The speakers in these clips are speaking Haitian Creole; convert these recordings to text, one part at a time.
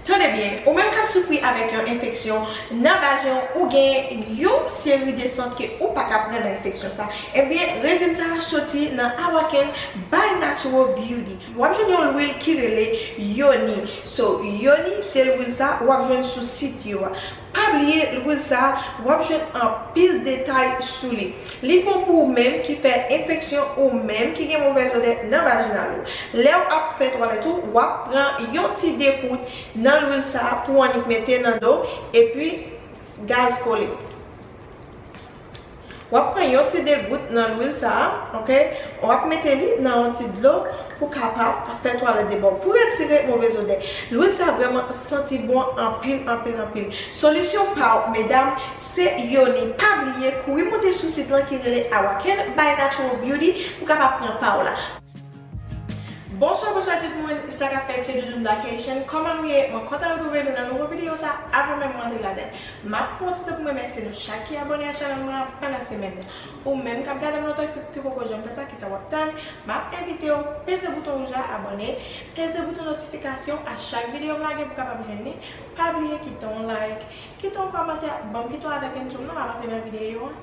Tande byen, ou menm kap soufri avèk yon enfeksyon nan vajen w ou gen yon seri de sant ke ou pa ka pran nan enfeksyon sa, ebyen rezilta a soti nan Awakèn by Natural Beauty. Wap jwenn yon lwil ki rele Yoni. So, Yoni se lwil sa wap jwenn sou sit yo a. Pa bliye lwil sa a, w ap jwenn anpil detay sou li. Li bon pou ou menm ki fè enfeksyon ou menm ki gen movèz odè nan vajinal ou. Lè w ap fè twalèt ou, w ap pran yon ti dekout nan lwil sa a pou w annik mete nan do w epi gaz kole. Wap pran yon ti degout nan lwil sa a ok wap mete li nan yon ti dlo pou kapab fè twalèt de bò pou retire move zodè lwil sa vrèman santi bon anpil anpil anpil solisyon paw medam se yoni pa bliye kouri monte sou sit lan ki rele Awake by natural beauty pou kapab pran paw la. Bonswa bonswa tout moun sa kap fèt se Doudoune Black Haitian kòman nou ye mwen kontan retrouve nou nan nouvo video sa avan menm mwen antre ladann map pwofite poum remèsye nou chak ki abòne a channel mwen an pandan semèn nan ou menm kap gadem lontan epiw ki poko janm fè sa kisa wap tann map envitew peze bouton wouj la abòne peze bouton notifikasyon a chak video m lage pou kapab jwenn li pa bliye kite yon like kite yon kòmantè banm kite yon avèk enjoym nan map antre nan video an.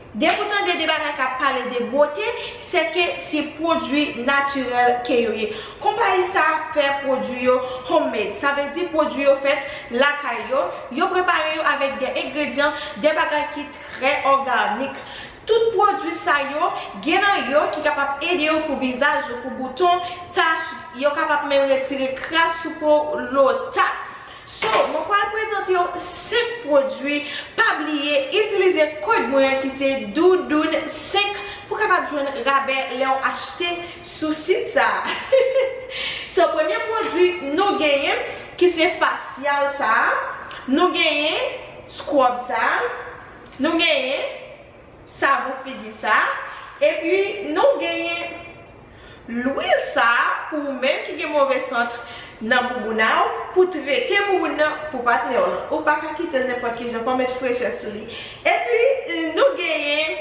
Depi w tande de bagay kap pale de bote, se ke se pwodwi natirèl ke yo ye. Konpayi sa a fè pwodwi yo homemade, sa vle di pwodwi yo fèt lakay yo, yo prepare yo avèk de engredyan, de bagay ki trè òganik. Tout pwodwi sa yo, gen nan yo ki kapab ede yo pou vizaj yo, pou bouton, tach, yo kapab menm retire kras sou po w, lota. So mwen pral prezantew 5 pwodwi pa bliye itilize kod mwen an ki se Doudoune 5 pou kapab jwenn rabè lèw achte sou sit sa So premye pwodwi nou genyen ki se fasyal sa nou genyen scrub sa nou genyen savon figi sa epi nou genyen. Lwil sa pou ou menm ki gen move sant nan boubouna w pou trete bouboun nan pou patnè w lan ou paka kitel nenpòt kijan fòw met frechè sou li epi nou genyen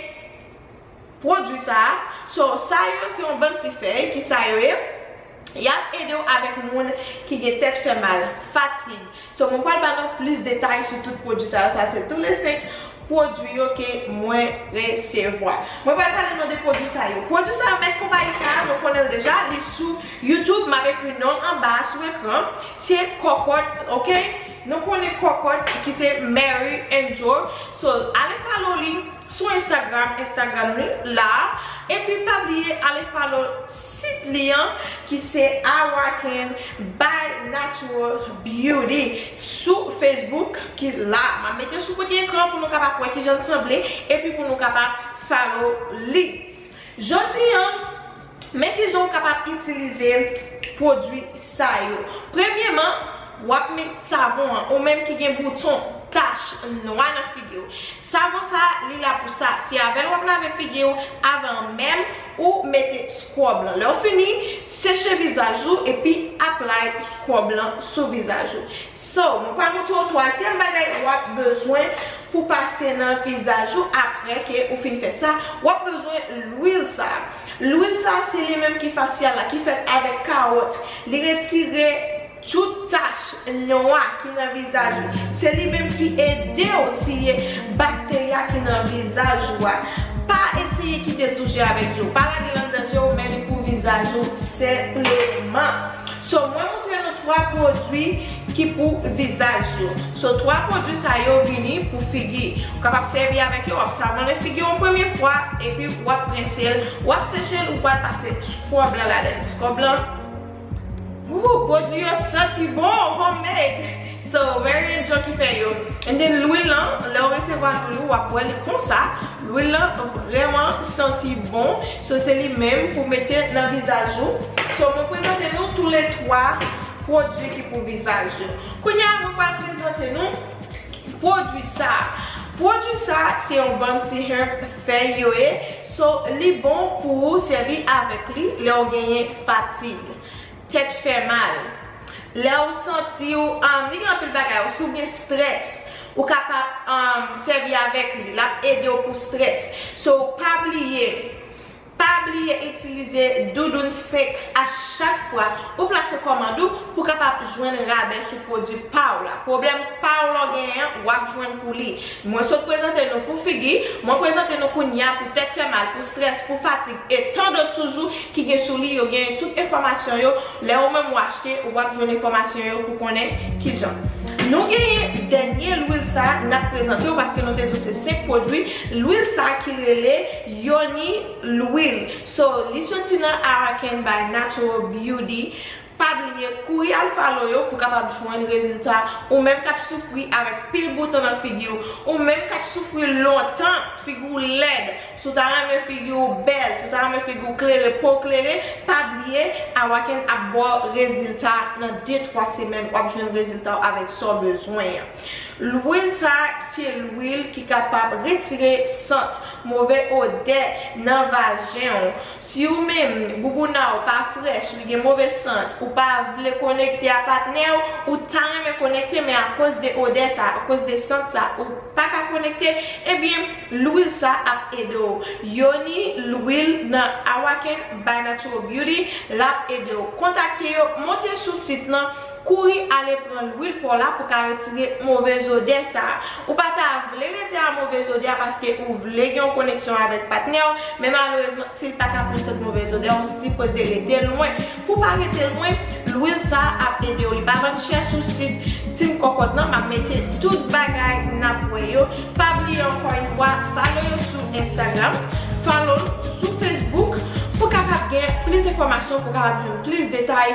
pwodwi sa so sa yo se yon bann ti fèy ki sa yo ye yap edew avèk moun ki gen tèt fèmal fatig So mwen pral ba nou plis detay sou tout pwodwi sa yo, sa se tou le 5 pwodwi yo ke mwen resevwa. Mwen pral pale nou de pwodwi sa yo. Pwodwi sa yo, mèt konpayi sa a, nou konnen l deja, li sou YouTube, m ap ekri non l anba a sou ekran, se Kòkòt, ok? Nou konnen Kòkòt ki se Mary Angel. So, ale follow li sou Instagram, Instagram li la a, epi pa bliye ale follow Sit li an ki se Awaken by Natural Beauty sou Facebook ki la. M ap mete l sou kote ekran an pou nou kapab wè ki jan l sanble epi pou nou kapab follow li. Jodi an, men ki jan ou kapab itilize pwodui sa yo. Premyeman, w ap met savon an, ou menm ki gen bouton, tach, nwa nan figi w. Savon sa li la pou sa, se avèl wap lave figiw avan menm ou mete scrub lan. Lèw fini seche vizaj ou epi apply scrub lan sou vizaj ou. So mwen pral montre ou twazyèm bagay wap bezwen pou pase nan vizaj ou aprè ke ou fin fè sa, wap bezwen lwil sa. Lwil sa se li menm ki facial la ki fèt avèk kawòt li retire. Tout tach nwa ki nan vizaj ou, se li menm ki ede w tiye bakterya ki nan vizaj ou a. Pa eseye kite touche avèk je w. Pa lage l anndan je w men li pou vizaj ou senpleman. So mwen moutre nou 3 pwodwi ki pou vizaj yo. So 3 pwodwi sa yo vini pou figi. Ou kapab sèvi avèk yo, w ap savonnen figi w yon premye fwa epi w ap rense l, w ap seche l ou pral pase scrub lan ladan l. Scrub lan. Ooh produit yo santi bon homemade so very enjoy ki fè yo and then lwil lan lèw resevwa lwil ou wap wè li konsa lwil lan vrèman santi bon so se li menm pou mete nan vizaj ou so mwen prezante nou tou le 3 produit ki pou vizaj yo kounya mwen pral prezante nou produit sa produit sa se yon banm ti herb. Fèy yo ye, so li bon pou ou sèvi avèk li lè ou genyen fatig, tèt fè mal, lè ou santi ou li gen anpil bagay ou si ou gen strès ou kapab sèvi avèk li lap ede ou pou strès so pa bliye Pa bliye itilize Doudoun 5 a chak fwa ou plase kòmand ou pou kapab jwenn rabè sou pwodwi pa w la. Pwoblèm pa w lè w genyen an, w ap jwenn pou li. Mwen sot prezante nou pou figi, mwen prezante nou kounye a pou tèt fè mal, pou strès, pou fatig e tan dòt toujou ki gen sou li. Yo genyen tout enfòmasyon yo. Lè ou menm w achte, w ap jwenn enfòmasyon yo pou konnen kijan nou genyen dènye lwil sa a n ap prezante w paske nou te di w se 5 pwodwi lwil sa a ki rele. Yony Louil so li soti nan Araken by Natural Beauty Pa bliye kouri al follow yo pou kapab jwenn rezilta Ou menm kap soufri avèk pil bouton nan figiw Ou menm kap soufri lontan figiw lèd Si w ta renmen figiw bèl Si w ta renmen figiw klere pow klere Pa bliye Araken ap baw rezilta nan 2 3 semèn wap jwenn reziltaw avèk sa w bezwen an. Lwil sa se lwil ki kapab retire sant, move odè nan vajen w. Si ou menm boubouna w pa frèch, li gen move sant, ou pa vle konekte a patnè w, ou ta renmen konekte men akoz de odè sa, akoz de sant sa ou paka konekte, ebyen lwil sa ap ede w. Yoni lwil nan Awaken by Natural Beauty lap ede w. Kontakte yo, monte sou sit lan. Kouri ale pran lwil paw la pou ka retire move zodè sa. Ou pa ta vle rete a move zodè a paske ou vle gen yon koneksyon avèk patnèw, men malerezman sil pa ka pran sot move zodè ou sipoze rete lwen. Pou pa rete lwen, lwil sa ap edew li pa vann chè sou sit Team Kokot lan map mete tout bagay nap wè yo. Pa bliye ankò yon fwa follow yo sou Instagram, follow sou Facebook pou kapab gen plis enfòmasyon pou kapab jwenn plis detay.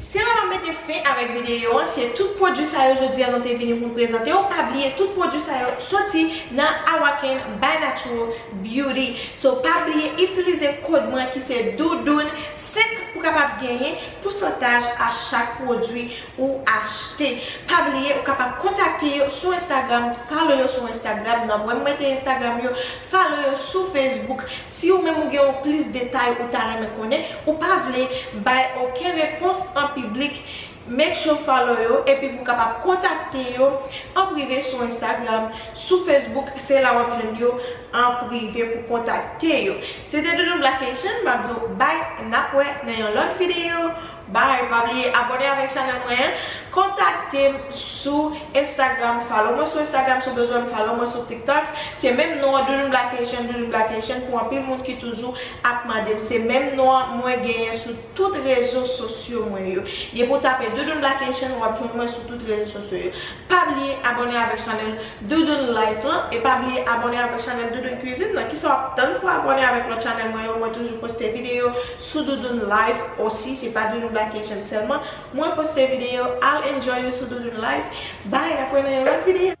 Se la map mete fen avèk videyo an, se tout pwodwi sa yo jodi a nou te vini poun prezante yo, pa bliye tout pwodwi sa yo soti nan Awaken by Natural Beauty, so pa bliye itilize kod mwen ki se Doudoune 5 pou kapab genyen pousantaj a chak pwodwi ou achte, pa bliye ou kapab kontakte yo sou Instagram, follow yo sou Instagram, nan mwen m mete Instagram yo, follow yo sou Facebook. Si ou menm ou gen yon plis detay ou ta renmen konnen, ou pa vle bay oken repons an piblik, make sure follow yo epi pou kapab kontakte yo an prive sou Instagram, sou Facebook se la wap jwenn yo an prive pou kontakte yo. Se te Doudou Black Haitian, map di w bye nap wè nan yon lòt video. Bye pa bliye abone avek chanel mwen an kontaktem sou instagram follow mwen sou instagram sou bezwen m follow mwen sou tiktok se menm non an doudoublakation doudoublakation pou anpil moun ki toujou ap mandem se menm non an mwen genyen sou tout rezo sosyo mwen yo depi w tape doudoublakation wap jwenn mwen sou tout rezo sosyo yo pa bliye abone avek chanel doudoune life lan e pa bliye abone avek chanel doudoune cuisine lan kisa wap tann pou abone avek lot chanel mwen yo mwen toujou poste video sou Doudoune life aussi se pa Doudou Black Haitian sèlman mwen poste video al enjoy yo sou Doudoune life bye nap wè nan yon lòt video.